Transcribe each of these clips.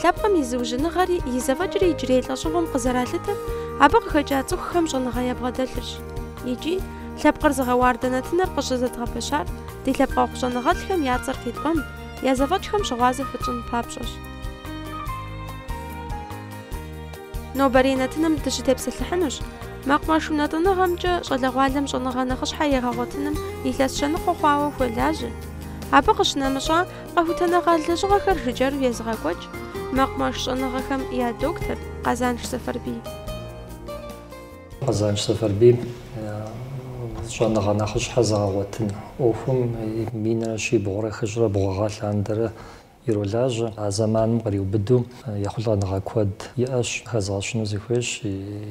Лъэпкъым и зыужьыныгъэри и зэфӏэкӏри иджырей лӏэщӏыгъуэм къызэралъытэр абы къыхэкӏа цӏыхухэм щӏэныгъэ ябгъэдэлъырщ. Икӏи, лъэпкъыр зыгъэуардэ нэтыныр къыщызэдгъэпэщар ди лъэпкъэгъу щӏэныгъэлӏхэм я цӏэр къитӏуэн, я зэфӏэкӏхэм щыгъуазэ фытщӏын папщӏэщ. Нобэрей нэтыным дыщытепсэлъыхьынущ мэкъумэш унэтӏыныгъэмкӏэ щӏалэгъуалэм щӏэныгъэ нэхъыщхьэ егъэгъуэтыным илъэс щэныкъуэ хъуауэ хуэлажьэ. Абы къыщынэмыщӏа, Къэхутэныгъэ лэжьыгъэхэр жыджэру езыгъэкӏуэкӏ мэкъумэш щӏэныгъэхэм я доктор Къэзанш Сэфэрбий. Къэзанш Сэфэрбий щӏэныгъэ нэхъыщхьэ зэгъэгъуэтын ӏуэхум минрэ щибгъурэ хыщӏрэ бгъу гъэ лъандэрэ иролажьэ. А зэманым къриубыдэу ехъулӏэныгъэ куэд иӏэщ, хэзгъэщыну сыхуейщ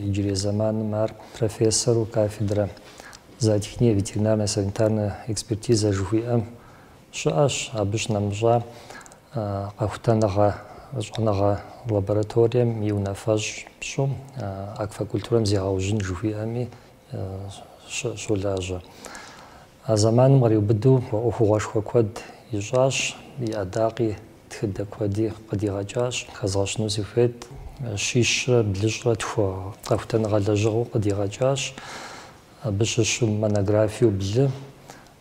иджырей зэманым ар профессору кафедрэ Зоотехния и ветеринарная санитарная экспертиза жыхуиӏэм Щыӏэщ абы щынэмыщӏа къэхутэныгъэ щӏэныгъэ лабораторием и унафэщӏ пщӏу аквакультурэм зегъэужьын жыхуиӏэми щолажьэ. А зэманым къриубыдэу ӏуэхугъуэшхуэ куэд ищӏащ, и ӏэдакъи, тхыдэ куэди къыдигъэкӏащ. Хэзгъэщыну сыхуейт, щищрэ блыщӏрэ тху къэхутэныгъэ лэжьыгъэу къыдигъэкӏащ, абы щыщу монографиеу блы,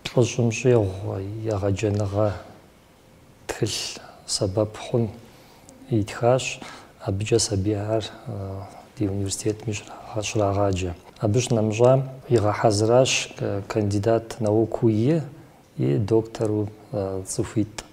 Плӏыщӏым щӏигъу егъэджэныгъэ тхылъ сэбэп хъун итхащ, абыкӏэ сабийхэр ди университетми щрагъаджэ. Абы щынэмыщӏам игъэхьэзыращ кандидат наукыу и и доктору цӏыхуитӏ.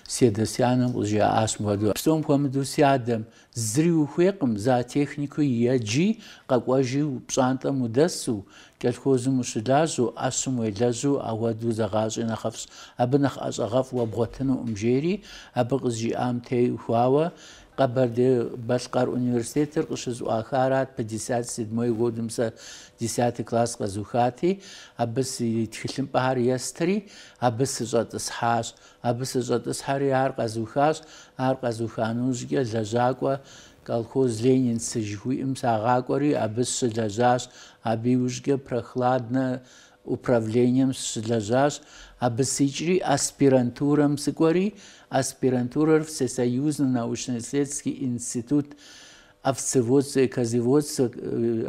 Си адэ си анэм къызжиӏащ мыхуэдэу. Псом хуэмыдэу си адэм зыри ухуейкъым, зоотехникэу еджи, къэкӏуэжи, пщӏантӏэм удэсу, кӏэлхозым ущылажьэу, ӏэщым уелэжьу ахуэдэу зэгъащӏи нэхъыфӏщ, абы нэхъ ӏэщӏагъэфӏ уэ бгъуэтынукъым, жери абы къызжиӏам теухуауэ Къэбэрдей-Балъкъэр университетыр къыщызэӏуахарат, пятьдесят седьмой годым сэ десятый класс къэзухати, абы си тхылъымпӏэхэр естри, абы сыщӏэтӏысхьащ. Абы сыщӏэтӏысхьэри ар къэзухащ, ар къэзуха нэужькӏэ лэжьакӏуэ колхоз Ленинцы жыхуиӏэм сагъакӏуэри абы сщылэжьащ, абы иужькӏэ Прохладнэ управлением сщылэжьащ, абы сикӏри аспирантурэм сыкӏуэри, аспирантурэр Всесоюзный научно-исследовательский институт овцеводство, козоводство,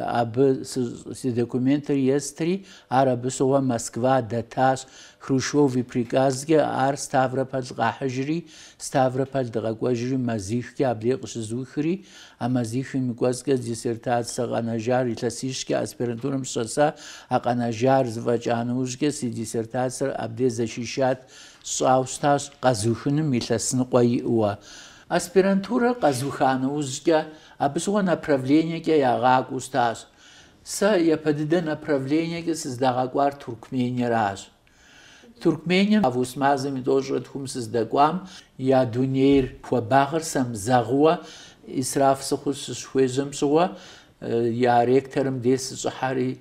абы си документыр естри, ар абы щыгъуэ Москва дэтащ. Хрущев и приказкӏэ ар Ставрополь къахьыжри, Ставрополь дыкъэкӏуэжри мазихкӏэ абдей къыщызухри, а мазихым и кӏуэцӏкӏэ диссертацэ къэнэжар илъэсищкӏэ аспирантурэм щӏэса, а къэнэжар зэфӏэкӏа нэужькӏэ си диссертацэр абдей защищать сщӏауэ щытащ къэзухыным илъэс ныкъуэ иӏэу. Аспирантурэр къэзыуха нэужькӏэ, абы щыгъуэ направлениекӏэ ягъакӏуэу щытащ. Сэ япэ дыдэ направлениекӏэ сыздагъэкӏуар Туркмениеращ. Туркмением август мазэм и тӏощӏрэ тхум сыздэкӏуам я дунейр хуабагъыр сэмызэгъыуэ исраф сыхъуу сыщыхуежьэм щыгъуэ, я ректорым дей сыщӏыхьэри,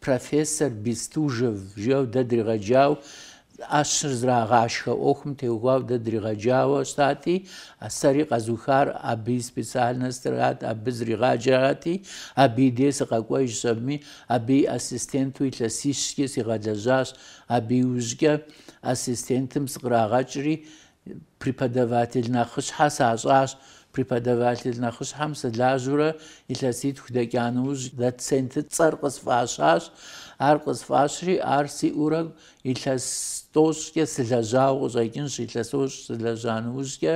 Профессор Бестужев жеу дэ дригъэджауэ ӏэщыр зрагъашхэ ӏуэхум теухуауэ дэ дригъэджауэ щтати, а сэри къэзухар абы и специальнострат, абы зригъаджэрати, абы и дей сыкъэкӏуэжщ, абыми абы и ассистенту илъэсищкӏи сигъэлэжьащ. Абы иужькӏэ ассистентым сыкърагъэкӏри, Преподаватель нэхъыщхьэ сащӏащ. Преподаватель нэхъыщхьэм сылажьэурэ илъэситху дэкӏа нэужь, доцент цӏэр къысфӏащащ. Ар къысфӏащри, ар сиӏурэ илъэс тӏощӏкӏэ сылэжьауэ къыщӏэкӏынщ, илъэс тӏощӏ сылэжьа нэужькӏэ,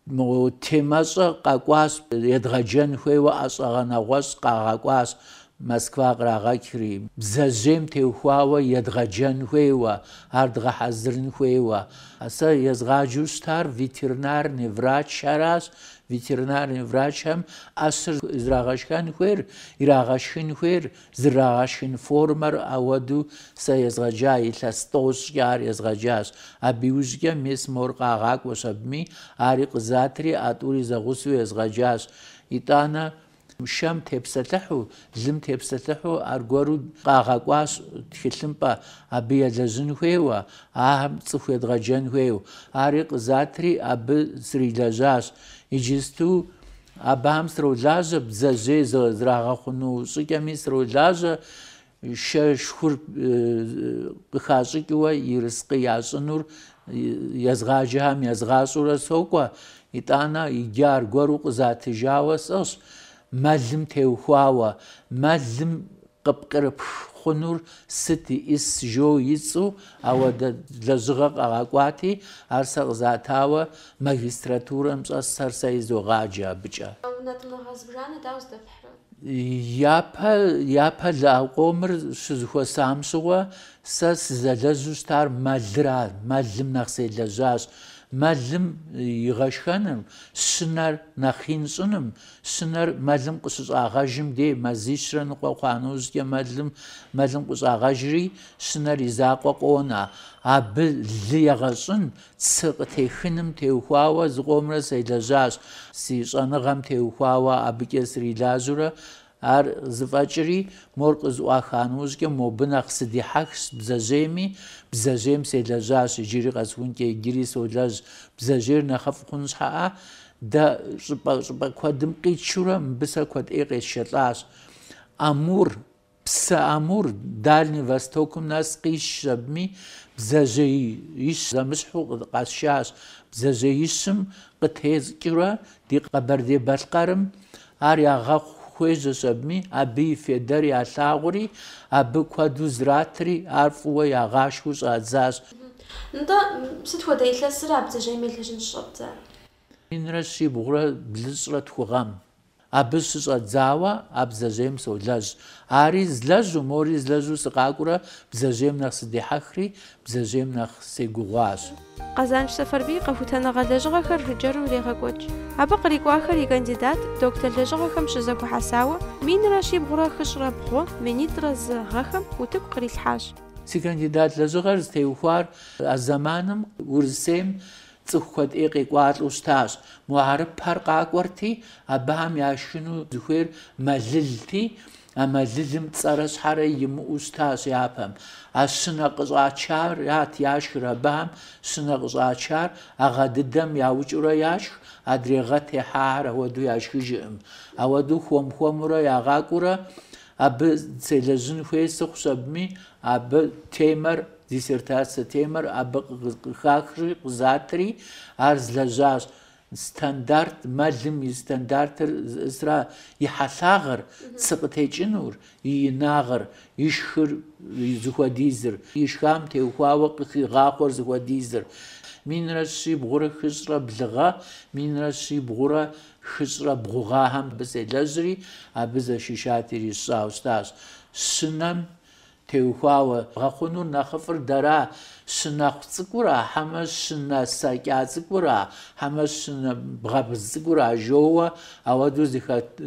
Мы темэщӏэ къэкӏуащ, едгъэджэн хуейуэ ӏэщӏагъэ нэгъуэщӏ къагъэкӏуащ, Москва кърагъэкӏри, бдзэжьейм теухуауэ едгъэджэн хуейуэ, ар дгъэхьэзырын хуейуэ. Сэ езгъаджэу щытар ветеринарный врачхэращ, ветеринарный врачхэм ӏэщыр зрагъэшхэн хуейр, ирагъэшхын хуейр Зрагъэшхын формэр ауэду сэ езгъэджа илъэс тӏощӏкӏэ ар езгъэджащ. Абы иужькӏэ мис мор къагъакӏуэщ абыми, ари къызатри а тӏури зэгъусэу езгъэджащ. Итӏанэ, шэм тепсэлъыхьу, лым тепсэлъыхьу аргуэру къагъэкӏуащ тхылъымпӏэ, абы елэжьын хуейуэ, ахэм цӏыху едгъэджэн хуейуэ. Ари къызатри абы срилэжьащ. Иджысту Абыхэм сролажьэ бдзэжьей зрагъэхъуну щӏыкӏэми сролажьэ шэ, шхур къыхащӏыкӏыуэ ерыскъы ящӏынур езгъаджэхэм язгъащӏэурэ сокӏуэ, итӏанэ иджы аргуэру къызатыжауэ сӏыгъщ мэлым теухуауэ, мэлым Къыпкърыпх хъунур сыт иӏис жо ицӏу ауэдэ лэжьыгъэ къагъэкӏуати, ар сэ къызатауэ магистратурэм щӏэсхэр сэ изогъаджэ абыкӏэ. Нтӏэ темэ зыбжанэ дауэ здэфхьрэ? Япэ, япэ ӏэщӏакъомыр щызэхуэсам щыгъуэ сэ сызэлэжьу щытар мэлыра, мэлым нэхъ селэжьащ. Мэлым игъэшхэныр, щынэр нэхъ ин щӏыным Щынэр мэлым къыщыщӏагъэжым дей мазищрэ ныкъуэ хъуа нэужькӏэ мэлым мэлым къыщӏагъэжри, щынэр и закъуэ къонэ. Абы лы егъэщӏын, цы къытехыным теухуауэ зыкъомрэ селэжьащ. Си щӏэныгъэм теухуауэ абыкӏэ срилажьэурэ ар зэфӏэкӏри, мор къызэӏуаха нэужькӏэ мобы нэхъ сыдихьэхщ бдзэжьейми, бдзэжьейм селэжьащ иджыри къэсхункӏэ иджыри солэжь, бдзэжьейр нэхъыфӏ хъун щхьэӏэ, Дэ щӏыпӏэ щӏыпӏэ куэдым къитшурэ мыбы сэ куэд ӏей къесшэлӏащ. Амур, псы Амур, Дальний Востокым нэс къисшщ абыми, бдзэжьеищ зэмыщхьу къэсшащ. Бдзэжьеищым къытескӏыурэ ди Къэбэрдей-Балъкъэрым ар ягъэхъу хуежьэщ абыми, абы и федар ялъагъури, абы куэду зратри, ар фӏыуэ ягъашхэу щӏадзащ. Нтӏэ, сыт хуэдэ илъэсыр а бдзэжьейм елэжьын щӏэбдзэр? Минрэ щибгъурэ блыщӏрэ тху гъэм. Абы щыщӏэдзауэ а бдзэжьейм солэжь. Ари злэжьу, мори злэжьу сыкъакӏуэурэ бдзэжьейм нэхъ сыдихьэхри, бдзэжьейм нэхъ сегугъуащ. Къэзанш Сэфарбий къэхутэныгъэ лэжьыгъэхэр жыджэру ирегъэкӏуэкӏ. Абы кърикӏуахэр и кандидат, доктор лэжьыгъэхэм щызэхуэхьэсауэ, минрэ щибгъурэ хыщӏрэ бгъу, минитӏрэ зы гъэхэм утыку кърилъхьащ. Си кандидат лэжьыгъэр зытеухуар а зэманым Урысейм Цӏыху куэд ӏей къекӏуалӏэу щытащ. Мо хьэрыпхэр къакӏуэрти, абыхэм яшхыну зыхуейр мэлылти, а мэлылым цӏэрэ щхьэрэ имыӏэу щытащ япэм. А щынэ къыщӏачарат яшхыр абыхэм, щынэ къыщӏачар а гъэ дыдэм яукӏыурэ яшх, адрей гъэ техьахэр ахуэдэу яшхыжыркъым. Ауэдэу хуэм-хуэмурэ ягъакӏуэурэ абы селэжьын хуей сыхъущ абыми, абы темэр. Диссертацэ темэр абы къыхахри къызатри ар злэжьащ, стандарт мэлым и стандартыр зиӏысыр и хьэлъагъыр, цы къытекӏынур, и инагъыр, ишхыр зыхуэдизыр, ишхам теухуауэ къыхигъахъуэр зыхуэдизыр, минрэ щибгъурэ хыщӏрэ блы гъэ, минрэ щибгъурэ хыщӏрэ бгъу гъэхэм абы селэжьри, абы защищать ирисщӏауэ щытащ, щынэм Теухуауэ бгъэхъунур нэхъыфӏыр дэра, щынэхъу цӏыкӏура, хьэмэ щынэ сэкӏа цӏыкӏура, хьэмэ щынэ бгъэбз цӏыкӏура жоуэ, ауэдэу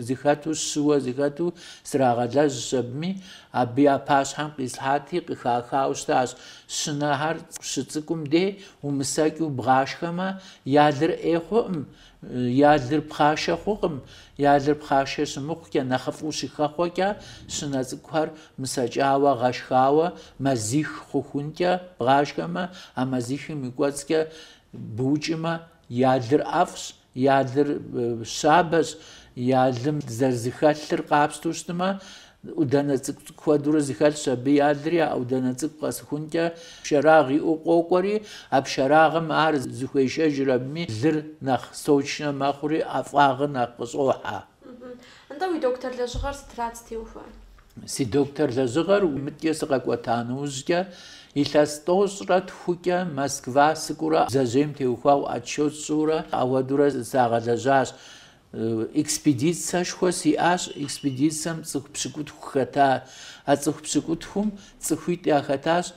зыхэту щыуэ зыхэту срагъэлэжьщ абыми, абы я пащхьэм къислъхьати, къыхахауэ щытащ, щынэхэр щыцӏыкӏум дей умысэкӏыу бгъашхэмэ, я лыр ӏей хъуӏым, Я лыр пхъашэ хъукъым, я лыр пхъашэ щымыхъукӏэ, нэхъыфӏу щыхэхъуэкӏэ, щынэ цӏыкӏухэр мысэкӏауэ, гъэшхауэ, мэзих хъухункӏэ бгъашхэмэ, а мэзихым и кӏуэцӏкӏэ букӏымэ, я лыр ӏэфӏщ, я лыр щабэщ, я лым зэрызыхэлъыр къапщтэу щытмэ, Ӏудэнэ цӏыкӏу куэдурэ зыхэлъщ, абы я лыр а ӏудэнэ цӏыкӏу къэсыхункӏэ пшэрагъ иӏэу къокӏуэри, а пшэрагъым ар зыхуешэжри абыми лыр нэхъ сочнэ мэхъури, ӏэфӏагъыр нэхъ къыщӏохьэ. Нтӏэ, уи доктор лэжьыгъэр сытрат зытеухуар? Си доктор лэжьыгъэр мыдэкӏэ сыкъэкӏуэта нэужькӏэ, илъэс тӏощӏрэ тхукӏэ Москва сыкӏуурэ бдзэжьейм теухуауэ отчет сщӏыурэ апхуэдэурэ сагъэлэжьащ. Экспедицэшхуэ сиӏащ, экспедицэм цӏыху пщыкӏутху хэта. А цӏыху пщыкӏутхум цӏыхуитӏ яхэтащ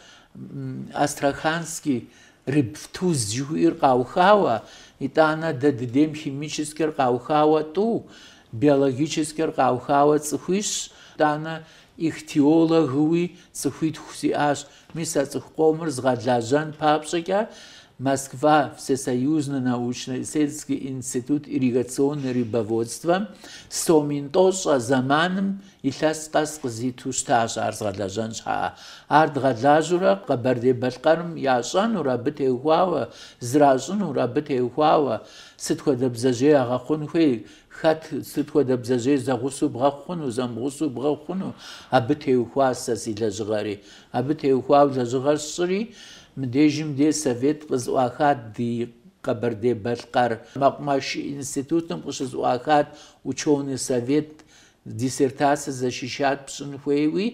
Астраханский рыбвтуз жыхуиӏэр къаухауэ, итӏанэ дэ дыдейм химическэр къаухауэ тӏу, биологическэр къаухауэ цӏыхуищщ, итӏанэ ихтиологыуи цӏыхуитху сиӏащ. Мис а цӏыху къомыр згъэлэжьэн папщӏэкӏэ Москва Всесоюзный научно-исследовательский институт ирригационный рыбоводствэм сом мин тӏощӏ а зэманым илъэс къэс къызиту щытащ ар згъэлэжьэн щхьэкӏэ. Ар дгъэлажьэурэ Къэбэрдей-Балъкъэрым ящӏэнур, абы теухуауэ, зэращӏынур, абы теухуауэ сыт хуэдэ бдзэжьей ягъэхъун хуей, Хэт, сыт хуэдэ бдзэжьей зэгъусэу бгъэхъуну, зэмыгъусэу бгъэхъуну абы теухуа сэ си лэжьыгъэри? Абы теухуауэ лэжьыгъэр сщӏыри, мыдежым де совет къызэӏуахат ди Къэбэрдей-Балъкъэр мэкъумэш институтым къыщызэӏуахат ученый совет Диссертацэ защищать пщӏын хуейуэ,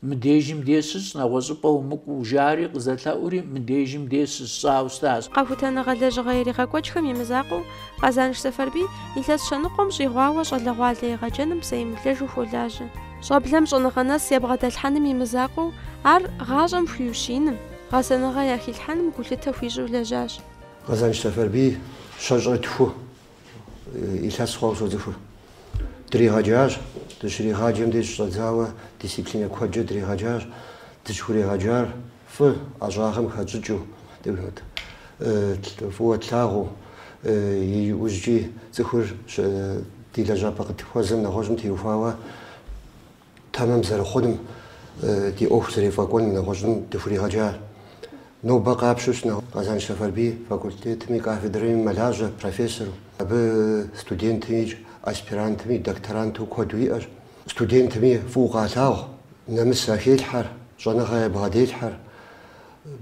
мыдежым де щыщӏ, нэгъуэщӏыпӏэ умыкӏуу, жари, къызэлъэӏури, мыдежым де щысщӏауэ щытащ. Къэхутэныгъэ лэжьыгъэ иригъэкӏуэкӏхэм и мызакъуэу, Къэзанш Сэфарбий илъэс щэныкъуэм щӏигъуауэ щӏалэгъуалэ егъэджэным псэемыблэжу хуолажьэ. Щӏэблэм щӏэныгъэ нэс ябгъэдэлъхьэным и мызакъуэу, ар гъащӏэм хуиущииным, гъэсэныгъэ яхилъхьэным гулъытэ хуищӏу лэжьащ. Къэзанш Сэфарбий щэщӏрэ тху Илъэс хъуауэ соцӏыхур. Дригъэджащ, дыщригъаджэм деж щӏэдзауэ дисциплинэ куэдкӏэ дригъэджащ. Дызыхуригъэджар фӏы ӏэщӏагъэм хэтщӏыкӏыу, фӏыуэ тлъагъуу. Иужькӏи цӏыхур ди лэжьапӏэ къытхуэзэм нэгъуэщӏым теухуауэ. Тэмэм зэрыхъуным ди ӏуэху зэрефӏэкӏуэным нэгъуэщӏым дыхуригъэджа. Нобэ къапщу щытмэ Къэзанш Сэфэрбий факультетым и кафедрэми мэлажьэ, профессору. Абы студентми икӏ аспирантми докторанту куэду иӏэщ. Студентми фӏыуэ къалъагъу, нэмыс яхелъхьэр, щӏэныгъэ ябгъэделъхьэр.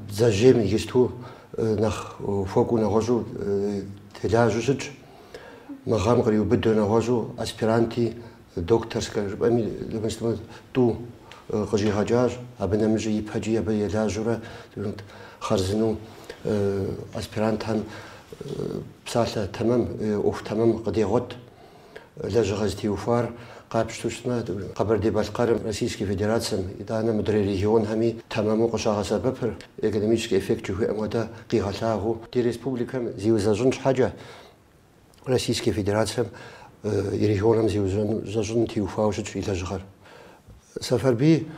Бдзэжьейм иджысту нэхъ хуэкӏуу нэгъуэщӏу телажьэу щытщ. Мы гъэм къриубыдэу нэгъуэщӏу аспиранти Докторскэ жыпӏэми Левенстэмэ тӏу къыщӏигъэкӏащ, абы нэмыщӏи ипэкӏи абы елажьэурэ хъарзынэу аспирантхэм псалъэ тэмэм, ӏуэху тэмэм къыдегъуэт. Лэжьыгъэ зытеухуар къапщтэу щытмэ, Къэбэрдей-Балъкъэрым, Российскэ Федерацэм, итӏанэ мыдрей регионхэми тэмэму къыщагъэсэбэпыр, экономическэ эффект жыхуиӏэм хуэдэ, къигъэлъагъуу, ди республикэм зиузэщӏын щхьэкӏэ, Российскэ Федерацэм и регионым зиузэщӏыным теухуауэ щытщ и лэжьыгъэр. Сэфэрбий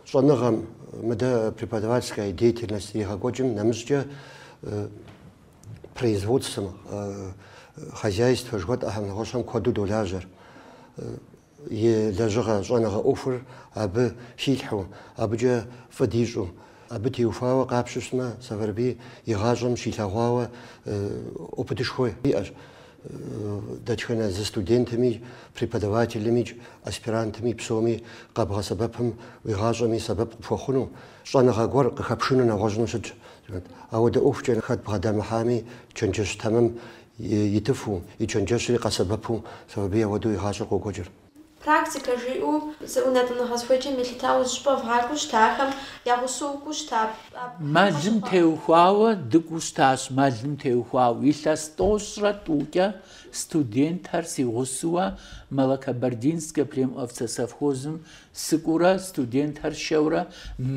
щӏэныгъэм мыдэ преподавательская деятельность иригъэкӏуэкӏым нэмыщӏкӏэ производствэм, хозяйствэ жыхуэтӏэхэм нэгъуэщӏхэм куэду долажьэр. и лэжьыгъэ щӏэныгъэ ӏуэхур абы хилъхьэу, абыкӏэ фӏы дищӏу, абы теухуауэ къапщу щытмэ, Сэфэрбий и гъащӏэм щилъэгъуауэ опытышхуэ иӏэщ дэтхэнэ зы студентми, преподавателымикӏ, аспирантми, псоми къэбгъэсэбэпым уи гъащӏэми сэбэп къыпхуэхъуну, щӏэныгъэ гуэр къыхэпшыну нэгъуэщӏыну щытщ. Ауэдэ ӏуэхукӏэ хэт бгъэдэмыхьами, чэнджэщ тэмэм итыфу, и чэнджэщри къэсэбэпу Сэфэрбий ауэдэу и гъащӏэр къокӏуэкӏыр. Практикэ жиӏэу зы ӏунэтӏыныгъэ зыхуеджэм елъытауэ зы щӏыпӏэ вгъакӏуэу щыта, ахэм я гъусэу укӏуэу щыта, абыхэм къащыхъуа. Мэлым теухуауэ дыкӏуэу щытащ, мэлым теухуауэ. Илъэс тӏощӏрэ тӏукӏэ студентхэр си гъусэуэ Малокабардинскэ племовцесовхозым Сыкӏуурэ студентхэр сшэурэ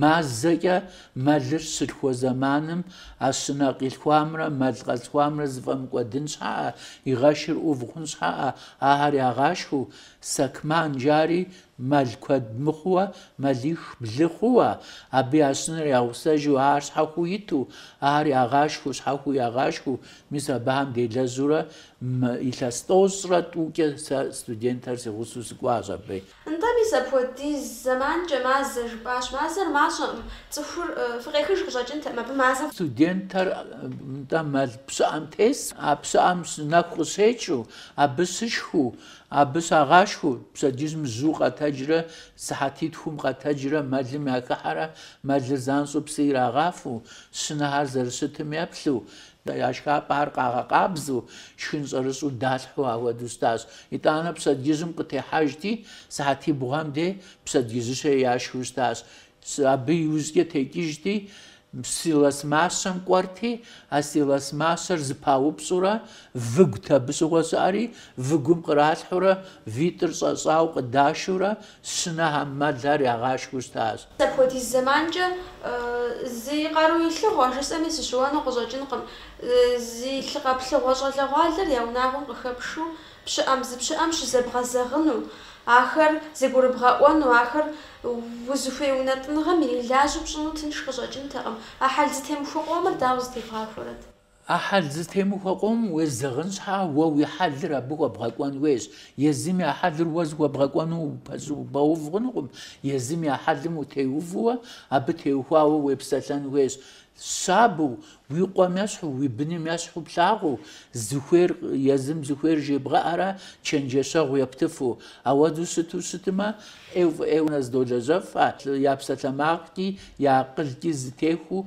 мазэкӏэ мэлыр щылъхуэ зэманым а щынэ къилъхуамрэ мэл къэзылъхуамрэ зэфӏэмыкӏуэдын щхьэӏэ, и гъэшыр ӏув хъун щхьэӏэ ахэр ягъашхэу, сакман жари мэл куэд мыхъууэ, мэлих блы хъууэ, абы я щынэр ягъусэжу ахэр щхьэхуу иту, ахэр ягъашхэу, щхьэхуу ягъашхэу, мис абыхэм делэжьурэ илъэс тӏощӏрэ тӏукӏэ сэ студентхэр си гъусэу сыкӏуащ абы. Нтӏэ, мис апхуэдиз зэманкӏэ мазэ жыпӏащ. Мазэр мащӏэкъым, цӏыхур фыкъехыж къыщӏэкӏынтэкъым абы мазэ. Студентыр, нтӏэ, мэл пщыӏэм тес, а пщыӏэм нэху къыщекӏыу, абы щышхыу, абы щагъашхэу, пщэдджыжьым жьыу къэтэджрэ сыхьэтитхум къэтэджрэ мэлым яхыхьэрэ, мэлыр занщӏэу псы ирагъафэу, щынэхэр зэрыщытым еплъу, Я шхапӏэхэр къагъэкъабзэу, шхын щӏэрыщӏу далъхьэу ахуэдэу щытащ. Итӏанэ пщэдджыжьым къытехьэжти, сыхьэтибгъуэм дей пщэдджыжьышхэ яшхыу щытащ. Абы иужькӏэ текӏыжти, силос мащэм кӏуэрти, а силос мащэр зыпаупщӏурэ, выгут абы щыгъуэ щыӏэри, выгум къралъхьэурэ, витӏыр щӏэщӏауэ къыдашэурэ, Щынэхэм, мэлхэр ягъашхэу щытащ. Апхуэдиз зэманкӏэ зи къару илъыгъуэ жысӏэми сыщыуэну къыщӏэкӏынкъым. Зи лъы къэплъыгъуэ щӏалэгъуалэр я унагъуэм къыхэпшу, пщыӏэм зы пщыӏэм щызэбгъэзэгъыну, ахэр зэгурыбгъэӏуэну, ахэр узыхуей унэтӏыныгъэм ирилажьэу пщӏыну тынш къыщӏэкӏынтэкъым. А хьэл зэтемыхуэ къомыр дауэ зэтевгъахуэрэт? А хьэл зэтемыхуэ къом уезэгъын щхьа уэ уи хьэлыр абы хуэбгъэкӏуэн хуейщ. Езым я хьэлыр уэ зыхуэбгъэкӏуэну упэщӏ упэув хъунукъым. Езым я хьэлым утеувэу, абы теухуауэ уепсэлъэн хуейщ. Щабэу, уи къуэм ещхьу, уи быным ещхьу плъагъуу, зыхуейр езым зыхуейр жебгъэӏэрэ, чэнджэщэгъу ептыфу. Ауэду щыту щытмэ, ӏейуэ фӏы ӏейуэ нызэдолэжьэфхэ, я псалъэмакъкӏи, я акъылкӏи зэтехуэу,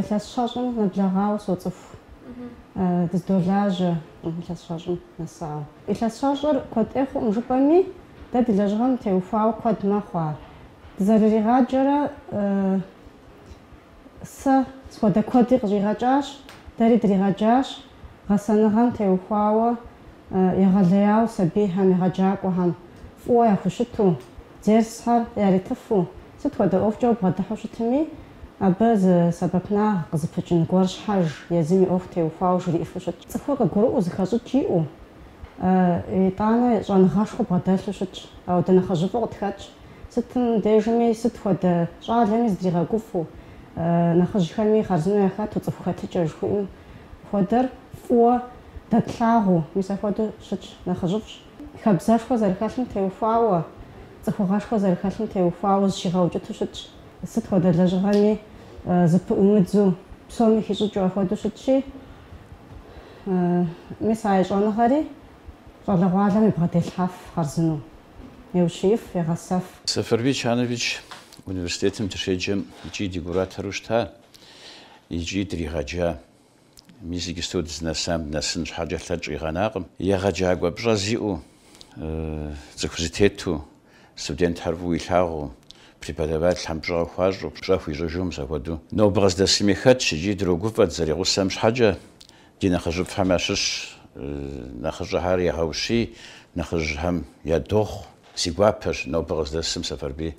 Илъэс щэщӏым нэблэгъауэ соцӏыху, дыздолажьэ илъэс щэщӏым нэсауэ. Илъэс щэщӏыр куэд ӏей хъуӏым жыпӏэми, дэ ди лэжьыгъэм теухуауэ куэд мэхъу ар. Дызэрыригъаджэрэ сэ схуэдэ куэди къыщӏигъэкӏащ, дэри дригъэджащ. гъэсэныгъэм теухуауэ егъэлеяуэ сабийхэм, егъэджакӏуэхэм фӏыуэ яхущыту, дерсхэр яритыфу, сыт хуэдэ ӏуэхукӏэ убгъэдыхьу щытми, абы зы сэбэпынагъ къызыпыкӏын гуэр щхьэж, езым и ӏуэху теухуауэ жриӏыфу щытщ. Цӏыхур къыгурыӏуэу зыхэщӏыкӏ иӏэу, итӏанэ щӏэныгъэшхуэ бгъэдэлъу щытщ, ауэ дэ нэхъыжьыфӏу къытхэтщ. Сытым дежми, сыт хуэдэ щӏалэми зыдригъэкӏуфу, нэхъыжьхэми хъарзынэу яхэту цӏыху хэтыкӏэ жыхуаӏэм хуэдэр фӏыуэ дэтлъагъуу, мис апхуэдэу щытщ нэхъыжьыфӏщ. Хабзэшхуэ зэрыхэлъым теухуауэ, цӏыхугъэшхуэ зэрыхэлъым теухуауэ зыщигъэукӏыту щытщ, сыт хуэдэ лэжьыгъэми зыпыӏумыдзу, псоми хищӏыкӏыу апхуэдэу щытщи, мис а и щӏэныгъэри щӏалэгъуалэм ябгъэделъхьэф хъарзынэу. Еущиеф, егъэсэф. Сэфэрбий Чанович университетым дыщеджэм икӏи ди куратору щыта икӏи дригъэджа. Мис иджысту дызнэсам дынэсын щхьэкӏэ лъэкӏ къигъэнакъым. Егъэджакӏуэ пщӏэ зиӏэу, цӏыху зэтету, студентхэр фӏыуэ илъагъуу, преподавателхэм пщӏэ къыхуащӏу, пщӏэ хуищӏыжу мис апхуэдэу. Нобэ къыздэсми хэтщ икӏи дрогуфӏэ дызэригъусэм щхьэкӏэ, Ди нэхъыжьыфӏхэм ящыщ нэхъыщӏэхэр егъэущий, нэхъыжьхэм ядохъу. Си гуапэщ нобэ къыздэсым Сэфэрбий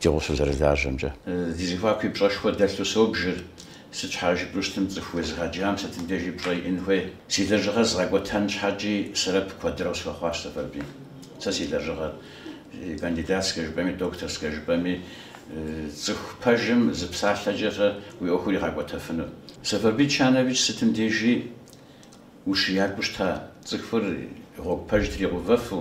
ди гъусэу зэрылажьэмкӏэ. Ди зэхуаку и пщӏэшхуэ дэлъу собжыр, сыт щхьа жыпӏэу щытмэ цӏыху уезыгъэджам сытым дежи пщӏэ иӏэн хуей. Си лэжьыгъэр згъэкӏуэтэн щхьэкӏи сэбэп куэдрэ къысхуэхъуащ Сэфэрбий. Сэ си лэжьыгъэр, кандидатскэ жыпӏэми, докторскэ жыпӏэми, цӏыху пэжым зы псалъэкӏэ-щэ уи ӏуэхур игъэкӏуэтэфыну. Сэфэрбий Чанович сытым дежи ущиякӏуэу щыта, цӏыхур и гъуэгу пэж тригъэувэфу,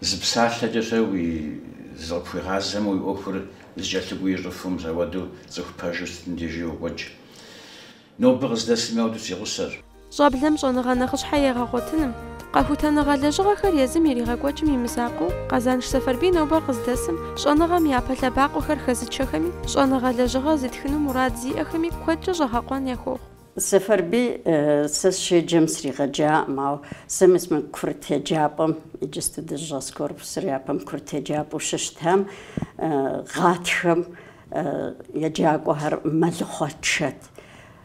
зы псалъэкӏэ-щэ уи зыкъыпхуигъазэмэ, уи ӏуэхур зэкӏэлъыкӏуэу ищӏыфу, мис апхуэдэу цӏыху пэжу сытым дежи йокӏуэкӏ. Нобэ къыздэсым апхуэдэу си гъусэщ. щӏэблэм щӏэныгъэ нэхъыщхьэ егъэгъуэтыным, къэхутэныгъэ лэжьыгъэхэр езым иригъэкӏуэкӏым и мызакъуэу Къэзанш Сэфэрбий нобэ къыздэсым, щӏэныгъэм япэ лъэбакъуэхэр хэзычэхэми, щӏэныгъэ лэжьыгъэ зытхыну мурад зиӏэхэми куэдкӏэ щӏэгъэкъуэн яхуохъу. Сэфэрбий, сэ сщеджэм сригъэджакъым, ауэ сэ мис мы курыт еджапӏэм, иджысту дыщӏэс корпусыр япэм курыт еджапӏэу щыщытам, гъатхэм еджакӏуэхэр мэлыхъуэ тшэт.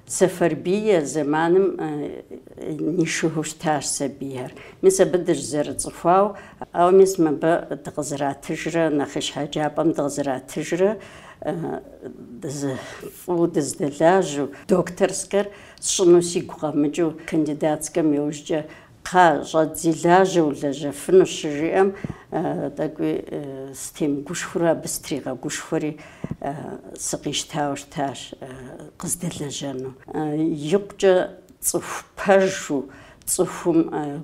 Сэфэрбий а зэманым нишыгыу щытащ сабийхэр. Мис абы дыщызэрыцӏыхуауэ, ауэ мис мыбы дыкъызэратыжрэ нэхъыщхьэ еджапӏэм дыкъызэратыжрэ фӏыуэ дыздэлажьэу, докторскэр сщӏыну сигу къэмыкӏыу, кандидатскэм иужькӏэ Кхъа, щӏэдзи лажьэ, улэжьэфынущ, щыжиӏэм, тӏэкӏуи стемыгушхуэурэ абы стригъэгушхуэри, сыкъищтауэ щытащ къыздэлэжьэну. Икъукӏэ цӏыху пэжу, цӏыхум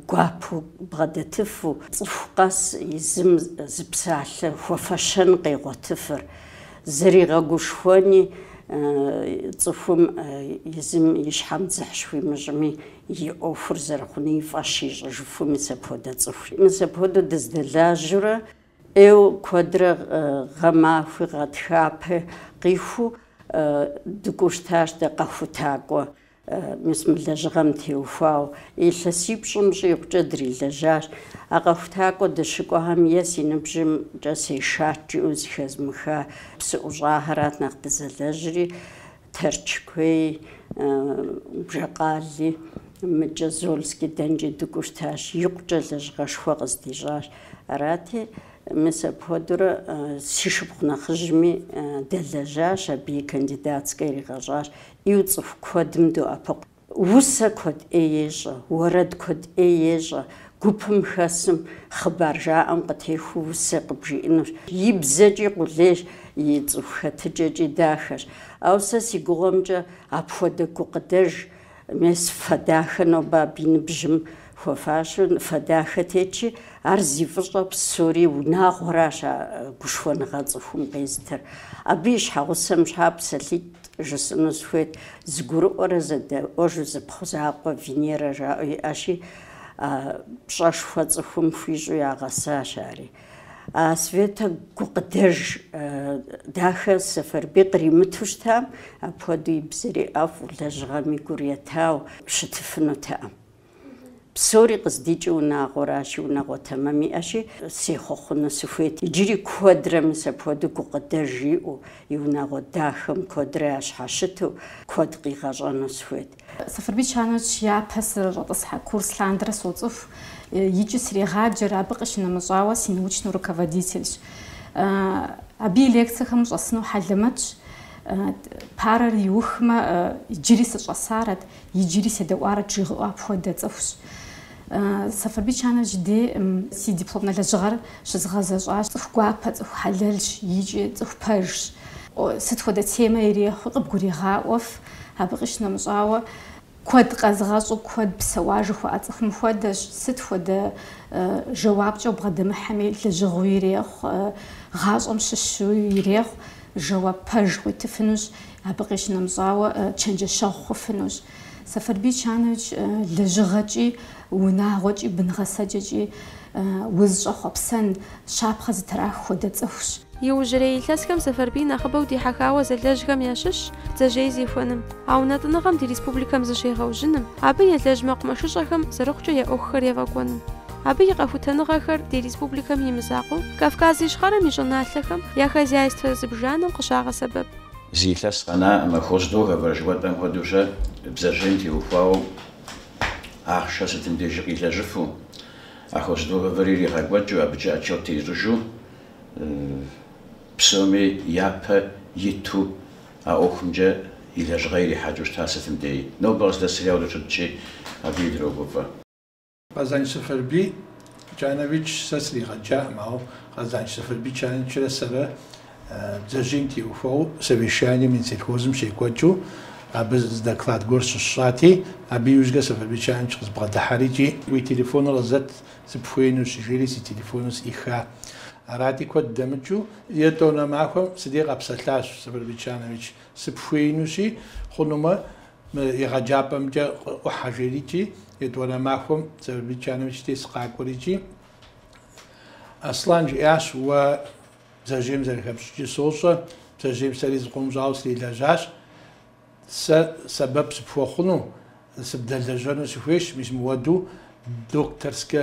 гуапэу бгъэдэтыфу, цӏыху къэс езым зы псалъэ хуэфэщэн къегъуэтыфыр, зэригъэгушхуэни, цӏыхум езым и щхьэм дзыхь щхуимыщӏми, и ӏуэхур зэрыхъуни и фӏэщ ищӏыжыфу мис апхуэдэ цӏыхури. Мис апхуэдэу дыздэлажьэурэ ӏейуэ куэдрэ гъэмахуи гъатхэпи къиху дыкӏуэу щытащ дэ къэхутакӏуэ, мис мы лэжьыгъэм теухуауэ. Илъэсипщӏым щӏигъукӏэ дрилэжьащ. А къэхутакӏуэ дыщыкӏуэхэм е си ныбжьымкӏэ сешат жиӏэу зыхэзмыха псыӏущӏахэрат нэхъ дызэлэжьри. Тэрч куей, Бжьэкъали, мыкӏэ Зольский дэнкӏи дыкӏуэу щытащ, икъукӏэ лэжьыгъэшхуэ къыздищӏащ. Арати, мис апхуэдэурэ си шыпхъу нэхъыжьми дэлэжьащ, абы и кандидатскэ иригъэщӏащ, ӏиу цӏыху куэдым доӏэпыкъу. Усэ куэд ӏей ещӏэ, уэрэд куэд ӏей ещӏэ, гупым хэсым хъыбар жаӏэм къытехуэу усэ къыбжиӏэнущ. И бзэкӏи къулейщ, и цӏыху хэтыкӏэкӏи дахэщ. Ауэ сэ си гугъэмкӏэ апхуэдэ гукъыдэж мес фэ дахэ нобэ абы и ныбжьым хуэфащэу фэ дахэ тетщи, ар зи фӏыщӏэ псори унагъуэращ а гушхуэныгъэ цӏыхум къезытыр. Абы и щхьэгъусэм щхьа псалъитӏ Жысӏэну сыхуейт, зыгурыӏуэрэ зэдэӏуэжу зы пхъу закъуэ Венерэ жаӏэу иӏэщи, а пщӏэшхуэ цӏыхум хуищӏу ягъэсащ ари. А Светэ гукъыдэж дахэ Сэфэрбий къримыту щытам, апхуэдэу и бзэри ӏэфӏу, лэжьыгъэми гур етауэ щытыфынутэкъым. Псори къыздикӏи унагъуэращи, унагъуэ тэмэм иӏэщи, сехъуэхъуну сыхуейт. Иджыри куэдрэ мис апхуэдэу гукъыдэж иӏэу, и унагъуэ дахэм куэдрэ ящхьэщыту, куэд къигъэщӏэну сыхуейт. Сэфэрбий Чаныч япэ сызэрыщӏэтӏысхьэ курс лъандэрэ соцӏыху икӏи срегъаджэр, абы къищынэмыщӏауэ си научнэ руководительщ. Абы и лекцэхэм щӏэсыну хьэлэмэтщ. Парэр иухмэ, иджыри сыщӏэсарэт, Иджыри седэӏуарэт жыуигъэӏэу апхуэдэ цӏыхущ. Сэфэрбий Чаныч и деж си дипломнэ лэжьыгъэр щызгъэзэщӏащ. Цӏыху гуапэ, цӏыху хьэлэлщ икӏи цӏыху пэжщ. Сыт хуэдэ темэ ирехъу, къыбгуригъаӏуэф, абы къищынэмыщӏауэ, куэд къэзыгъэщӏэу, куэд псэуа жыхуаӏэ цӏыхум хуэдэщ, сыт хуэдэ жэуапкӏэ убгъэдэмыхьэми, лэжьыгъэу ирехъу, гъащӏэм щыщу ирехъу. Жэуап пэж къуитыфынущ, абы къищынэмыщӏауэ, чэнджэщэгъу хъуфынущ. Сэфэрбий Чанович лэжьыгъэкӏи, унагъуэкӏи, бын гъэсэкӏэкӏи узыщӏэхъуэпсэн, щапхъэ зытрах хуэдэ цӏыхущ. Иужьрей илъэсхэм Сэфэрбий нэхъыбэу дихьэхауэ зэлэжьхэм ящыщщ бдзэжьей зехуэным, а унэтӏыныгъэм ди республикэм зыщегъэужьыным, абы елэжь мэкъумэшыщӏэхэм зэрыхъукӏэ я ӏуэхухэр ефӏэкӏуэным. Абы и къэхутэныгъэхэр ди республикэм и мызакъуэу, Кавказ Ищхъэрэм и щӏыналъэхэм я хозяйствэ зыбжанэм къыщагъэсэбэп. Зы илъэс къэнакъым, а хоздоговор жыхуэтӏэм хуэдэу щэ бдзэжьейм теухуауэ ахъшэ сытым дежи къилэжьыфу, а хоздоговорыр иригъэкӏуэкӏыу, абыкӏэ отчет теищӏыжу, псоми япэ иту а ӏуэхумкӏэ и лэжьыгъэ ирихьэкӏыу щыта сытым деи. Нобэ къыздэсым арауэ щытщи, абыи дрогуфӏэ. Къэзанч Сэфэрбий Чанович сэ сригъэджакъым, ауэ Къэзанч Сэфэрбий Чановичрэ сэрэ бдзэжьейм теухуауэ совещание Минсельхозым щекӏуэкӏыу абы зы доклад гуэр щысщӏати, абы иужькӏэ Сэфэрбий Чанович къызбгъэдыхьэри икӏи, Уи телефоныр къызэт, сыпхуеинущ, жери си телефоныр сӏиха. Арати, куэд дэмыкӏыу, етӏуанэ махуэм си дей къэпсэлъащ Сэфэрбий Чанович, сыпхуеинущи, хъунумэ, Мы егъэджапӏэмкӏэ къыӏухьэ жери икӏи, етӏуанэ махуэм Сэфэрбий Чанович дей сыкъакӏуэри икӏи. Аслан жиӏащ, Уэ бдзэжьейм зэрыхэпщӏыкӏыр сощӏэ, бдзэжьейм сэри зыкъом щӏауэ срилэжьащ. Сэ сэбэп сыпхуэхъуну, сыбдэлэжьэну сыхуейщ, мис мыуэду докторскэ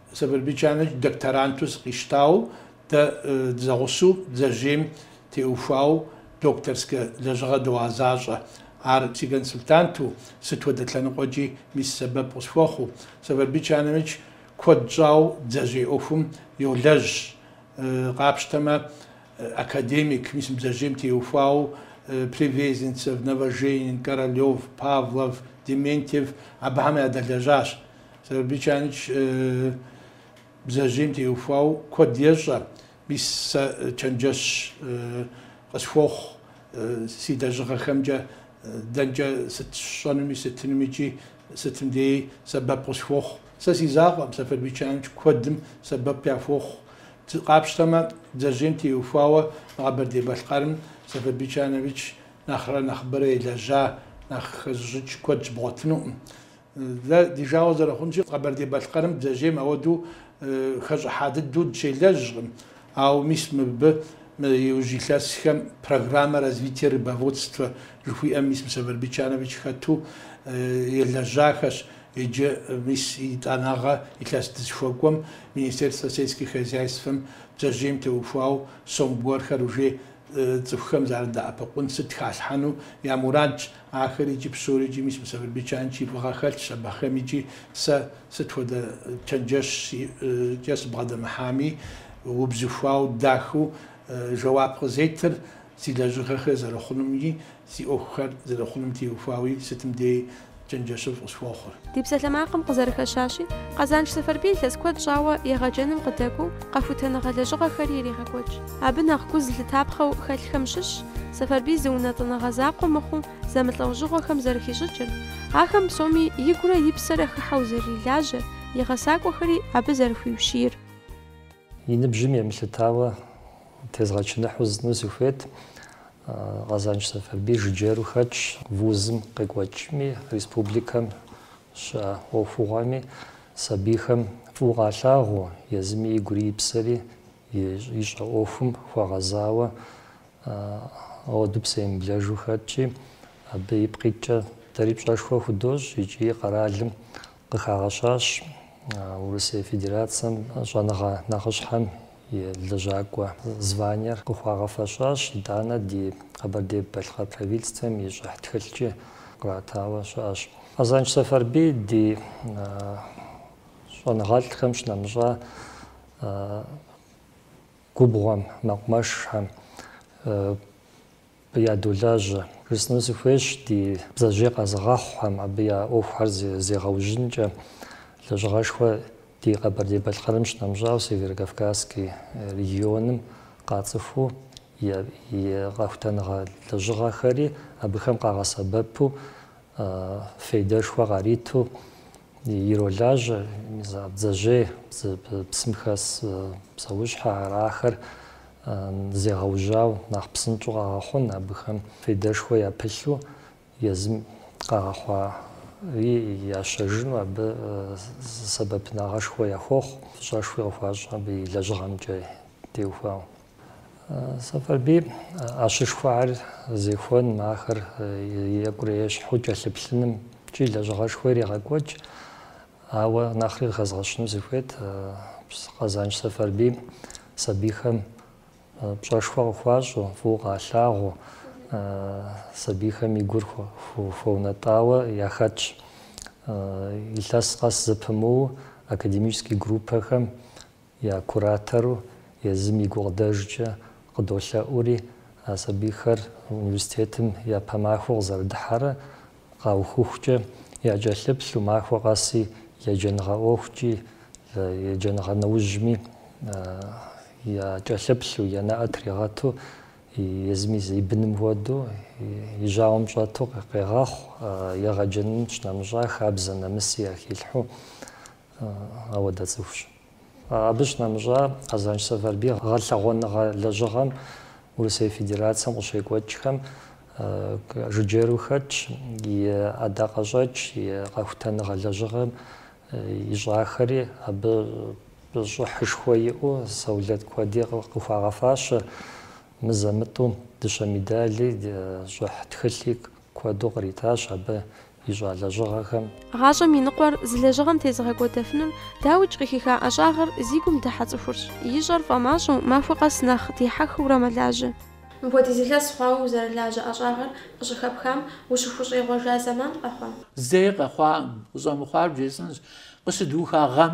Сэфэрбий Чанович докторанту сыкъищтауэ, дэ дызэгъусэу бдзэжьейм теухуауэ докторскэ лэжьыгъэ догъэзащӏэ. Ар си консультанту, сыт хуэдэ лъэныкъуэкӏи мис сэбэп къысхуэхъуу. Сэфэрбий Чанович куэд щӏауэ бдзэжьей ӏуэхум йолэжь. Къапщтэмэ, академик, мис бдзэжьейм теухуауэ Привезенцев, Новоженин, Королев, Павлов, Дементьев абыхэм ядэлэжьащ. Сэфэрбий Чанович бдзэжьейм теухуау куэд ещӏэ. Мис сэ чэнджэщ къысхуохъу си лэжьыгъэхэмкӏэ, дэнкӏэ сыт сщӏэнуми сытынуми икӏи сытым деи сэбэп къысхуохъу. Сэ си закъуэкъым Сэфэрбий Чанович куэдым сэбэп яхуохъу. Къапщтэмэ, бдзэжьейм теухуауэ мы Къэбэрдей-Балъкъэрым Сэфэрбий Чанович нэхърэ нэхъыбэрэ елэжьа, нэхъ хэзыщӏыкӏ куэд щыбгъуэтынукъым. Дэ ди жагъуэ зэрыхъунщи, Къэбэрдей-Балъкъэрым бдзэжьейм ауэдэу хэщӏыхьа дыдэу дыщелэжькъым. Ауэ мис мыбы иужь илъэсхэм Программа развития рыбоводства жыхуиӏэм мис Сэфэрбий Чанович хэту елэжьахэщ. Иджы мис етӏанэгъэ илъэс дызыхуэкӏуэм Министерство сельских хозяйствэм бдзэжьейм теухуауэ сом гуэрхэр уже Цӏыхухэм зэрыдэӏэпыкъун сыт халъхьэну я мурадщ. Ахэр иджы псори икӏи мис мы Сэфэрбий Чанович и фӏыгъэ хэлъщ абыхэм икӏи. Сэ сыт хуэдэ чэнджэщ сиӏэкӏэ сыбгъэдэмыхьами, убзыхуау, дахэу жэуап къызетыр си лэжьыгъэхэр зэрыхъунумкӏи, Си ӏуэхухэр зэрыхъунум теухуауи сытым дей чэнджэщыфӏ къысхуохъур. Ди псалъэмакъым къызэрыхэщащи, Къэзанш Сэфэрбий илъэс куэд щӏауэ егъэджэным къыдэкӏуэу къэхутэныгъэ лэжьыгъэхэри ирегъэкӏуэкӏ. Абы нэхъ гу зылъытапхъэу хэлъхэм щыщщ Сэфэрбий зы унэтӏыныгъэ закъуэ мыхъуу зэмылӏэужьыгъуэхэм зэрыхищӏыкӏыр, ахэм псоми игурэ и псэрэ хыхьэу зэрырилажьэр, и гъэсакӏуэхэри абы зэрыхуиущийр. И ныбжьым емылъытауэ Тезгъэчыныхьу зытну сыхуейт. Къэзанш Сэфэрбий жыджэру хэтщ. Вузым къекӏуэкӏми, республикэм щыӏэ ӏуэхугъуэми сабийхэм фӏыуэ къалъагъуу, езыми игури и псэри ищӏэ ӏуэхум хуэгъэзауэ ауэду псэемыблэжу хэтщи, абы ипкъ иткӏэ дэри пщӏэшхуэ худощӏ икӏи къэралым Къыхагъэщащ Урысей Федерацэм щӏэныгъэ нэхъыщхьэм и лэжьакӏуэ званиер, къыхуагъэфэщащ итӏанэ ди Къэбэрдей-Балъкъэр правительствэм и щӏыхь тхылъкӏи къратауэ щыӏэщ. Къэзанш Сэфарбий ди щӏэныгъэлӏхэм щынэмыщӏа губгъуэм, мэкъумэшхэм, Ядолажьэ. Жысӏэну сыхуейщ ди бдзэжьей къэзыгъэхъухэм абы я ӏуэхухэр зегъэужьынкӏэ. Лэжьыгъэшхуэ ди Къэбэрдей-Балъкъэрым щынэмыщӏауэ, Северо-Кавказский регионым къацӏыхуу и къэхутэныгъэ лэжьыгъэхэри абыхэм къагъэсэбэпу, фейдэшхуэ къариту иролажьэ, бдзэжьей, псым хэс псэущхьэ арахэр зегъэужьауэ нэхъ псынщӏэу къэгъэхъун абыхэм фейдэшхуэ япылъу езым къагъэхъуари ящэжыну абы сэбэпынагъэшхуэ яхуохъу, фӏыщӏэшхуи къыхуащӏ абы и лэжьыгъэмкӏэ теухуауэ. Сэфарбий ӏэщышхуэхэр зехуэным, ахэр екӏурэ ещхьу кӏэлъыплъынымкӏи лэжьыгъэшхуэ ирегъэкӏуэкӏ. Ауэ нэхъри къыхэзгъэщыну сыхуейт, Къэзанш Сэфарбий сабийхэм пщӏэшхуэ къыхуащӏу, фӏыуэ къалъагъуу, сабийхэм и гур хуэунэтӏауэ яхэтщ. Илъэс къэс зэпымыуу академический группэхэм, я куратору езым и гукъыдэжкӏэ къыдолъэӏури, а сабийхэр университетым япэ махуэу къызэрыдыхьэрэ къаухыхукӏэ якӏэлъыплъу, махуэ къэси еджэныгъэ ӏуэхукӏи, еджэныгъэ нэужьми якӏэлъыплъу, я нэӏэ тригъэту, езым и быным хуэдэу, и жьауэм щӏэту къегъэхъу, егъэджэным щынэмыщӏа хабзэ нэмыси яхилъхьу. Апхуэдэ цӏыхущ. Абы щынэмыщӏа, Къэзанш Сэфарбий гъэлъэгъуэныгъэ лэжьыгъэм Урысей Федерацэм къыщекӏуэкӏхэм жыджэру хэтщ, и ӏэдакъэщӏэкӏ, и къэхутэныгъэ лэжьыгъэм ищӏахэри абы щӏыхьышхуэ иӏэу саугъэт куэди къыхуагъэфащэ, мызэ-мытӏу дыщэ медали, щӏыхь тхылъи Куэду къритащ абы ищӏа лэжьыгъэхэм. Гъащӏэм и ныкъуэр зы лэжьыгъэм тезыгъэкӏуэдэфынур, дауикӏ, къыхиха ӏэщӏагъэр зи гум дыхьэ цӏыхурщ. Ищӏэр фӏэмащӏэу, махуэ къэс нэхъ дихьэхыурэ мэлажьэ. Мыпхуэдиз илъэс хъуауэ узэрылажьэ ӏэщӏагъэр къыщыхэпхам ущыхущӏегъуэжа зэман къэхъуа? Зэи къэхъуакъым, къыщӏэмыхъуар бжесӏэнщ. Къыщыдуха гъэм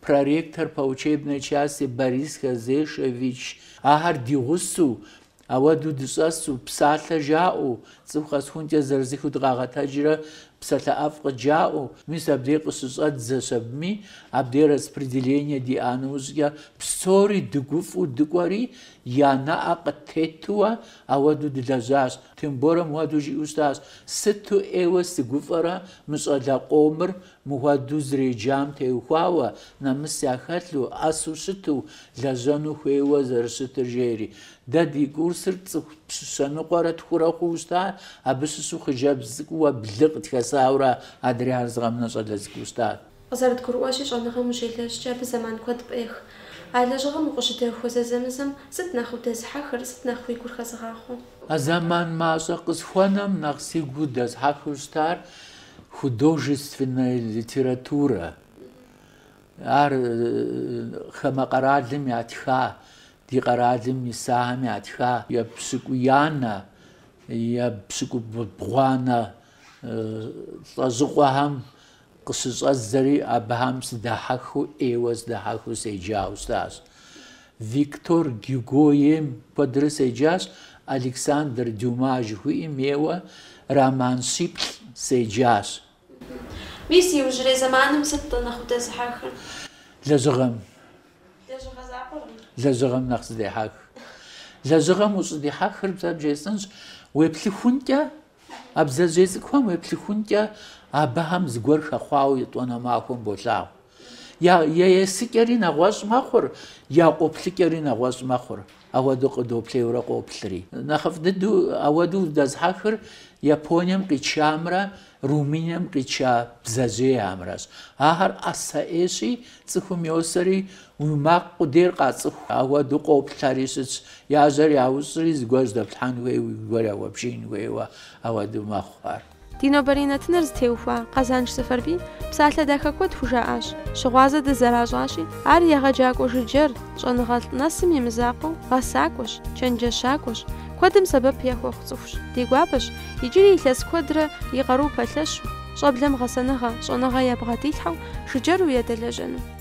Проректор по учебной части Борис Хазешевич ахэр ди гъусэу, ауэду дыщӏэсу, псалъэ жаӏэу, цӏыху къэсхункӏэ зырызыххэу дыкъагъэтэджрэ псалъэ ӏэфӏ къыджаӏэу, мис абдей къыщыщӏэдзэщ абыми, абдей распределение диӏа нэужькӏэ псори дыгуфӏу дыкӏуэри, я нэӏэ къыттетууэ ауэду дылэжьащ, Темборэ муэду жиӏэу щытащ, Сыту ӏейуэ сыгуфӏэрэ мы щӏалэ къомыр Мыхуэдэу зэреджам теухуауэ, нэмыс яхэлъу, ӏэсу щыту, лэжьэну хуейуэ зэрыщытыр жери. Дэ ди курсыр цӏыху пщы щэ ныкъуэрэ тхурэ хъууэ щытащ, абы щыщу хъыджэбз цӏыкӏууэ блы къытхэсауэрэ адрейхэр зы къэмынэу щӏалэ цӏыкӏуу щытащ. Къызэрыдгурыӏуэщи, щӏэныгъэм ущелэжькӏэ, абы зэман куэд пӏех. А лэжьыгъэм укъыщыдэхуэ зэзэмызэм сыт нэхъ удэзыхьэхыр, сыт нэхъ уи гур хэзыгъахъуэ? А зэман мащӏэ къысхуэнэм нэхъ сигу дэзыхьэхыу щытар Художественнэ литературэ, ар хамэ къэралым ятха, ди къэралым исахэм ятха епщыкӏуиянэ, епщыкӏубгъуанэ лӏэщӏыгъуэхэм къыщыщӏэдзэри, абыхэм сыдахьэхыу, ӏейуэ сыдахьэхыу седжауэ щытащ. Виктор Гюго ейм куэдрэ седжащ, Александр Дюма жыхуиӏэм ейуэ роман щыплӏ седжащ. Мис иужьрей зэманым сыт-тӏэ нэхъ удэзыхьэхыр? Лэжьыгъэм. Лэжьыгъэ закъуэкъым. Лэжьыгъэм нэхъ сыдехьэх. Лэжьыгъэм ущӏыдихьэхыр сэ бжесӏэнщ, уеплъыхункӏэ А бдзэжьей цӏыкӏухэм уеплъыхункӏэ абыхэм зыгуэр хэхъуауэ етӏуанэ махуэм болъагъу. Я есыкӏэри нэгъуэщӏ мэхъур, я къоплъыкӏэри нэгъуэщӏ мэхъур, ауэдэу къыдэплъейуэрэ къоплъри. Нэхъыфӏ дыдэу ауэдэу удэзыхьэхыр Японием къикӏамрэ Румынием къикӏа бдзэжьейхэмрэщ. Ахэр ӏэсэ ӏейщи, цӏыхум йосэри, Уи макъ къудейр къацӏыху, ауэду къоплъэри щытщ, я жьэр яущӏри зыгуэр жьэдэплъхьэн хуейуэ зыгуэр яхуэбдзын хуейуэ ауэду мэхъу ар. Ди нобэрей нэтынэр зытеухуа Къэзанш Сэфарбий псалъэ дахэ куэд хужаӏащ. Щыгъуазэ дызэращӏащи, ар егъэджакӏуэ жыджэр, щӏэныгъэлӏ нэсым и мызакъуэу, гъэсакӏуэщ, чэнджэщакӏуэщ, куэдым сэбэп яхуэхъу цӏыхущ. Ди гуапэщ иджыри илъэс куэдрэ и къару пэлъэщу, щӏэблэм гъэсэныгъэ, щӏэныгъэ ябгъэдилъхьэу жыджэру ядэлэжьэну.